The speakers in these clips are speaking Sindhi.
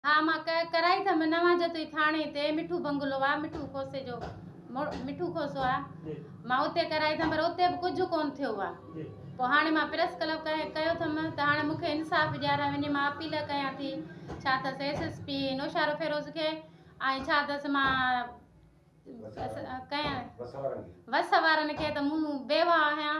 ها مان ڪه ڪرائي ٿم نه وان جو توهي ٿاڻي تي مٺو بنگلو آ مٺو کوسي جو مٺو کوسو آ مان اتي ڪرائي ٿم پر اتي به ڪجهه ڪون ٿيو آ پو هاڻي مان پريس کلپ ڪهي ڪيو ٿم ته هاڻي مون کي انصاف ڏياري وڃي مان اپيل ڪيان ٿي ڇا ته سيس اس پي نوشارو فيروز کي ۽ ڇا ته مان ڪهي وس وارن کي ته مون بيوا آهيان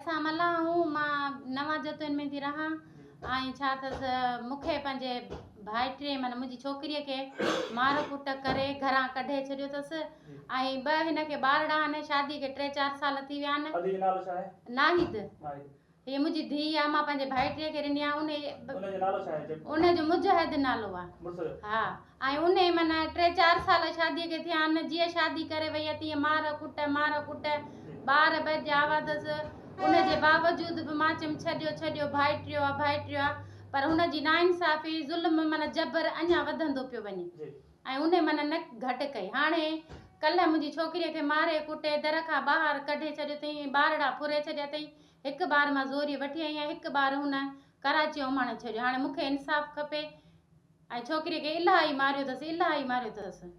اسان ملاح آهون، مان نوان جتوئين ۾ ٿي رهان ۽ ڇا اٿس مون کي پنهنجي ڀائٽي معنيٰ منهنجي ڇوڪريء کي مار ڪٽ ڪري گهران ڪڍي ڇڏيو اٿس ۽ ٻه هن کي ٻارڙا آهن، شادي کي ٽي چار سال ٿي ويا آهن. ادي جو نالو ڇا آهي؟ ناهيد، هيء منهنجي ڌيء آهي، مان پنهنجي ڀائٽي کي ڏني آهي. ان جو نالو ڇا آهي؟ ان جو مجاهد نالو آهي. مڙس جو؟ ها. ۽ انهي من ٽي چار سال شاديء کي ٿيا آهن. جيئن شادي ڪري ويئي تيئن مار ڪٽ، مار ڪٽ، ٻار ٻه جي آواتس. ان جي باوجود به مان چيم ڇڏيو، ڇڏيو، ڀائٽريو آ، ڀائٽريو آ. پر هن جي ناانصافي، ظلم من جبر اڃا وڌندو پيو وڃي. ۽ انهي من نه گهٽ ڪئي. هاڻي ڪلهه منهنجي ڇوڪريء کي ماري ڪٽي در کان ٻاهر ڪڍي ڇڏيو اٿئين ۽ ٻارڙا ڦري ڇڏيا اٿئين. هڪ ٻار مان زوريء وٺي آئي آهيان، هڪ ٻار هن ڪراچي اماڻي ڇڏيو هاڻي مونکي انصاف کپي ۽ ڇوڪري کي الاهي ماريو اٿس الاهي ماريو اٿس.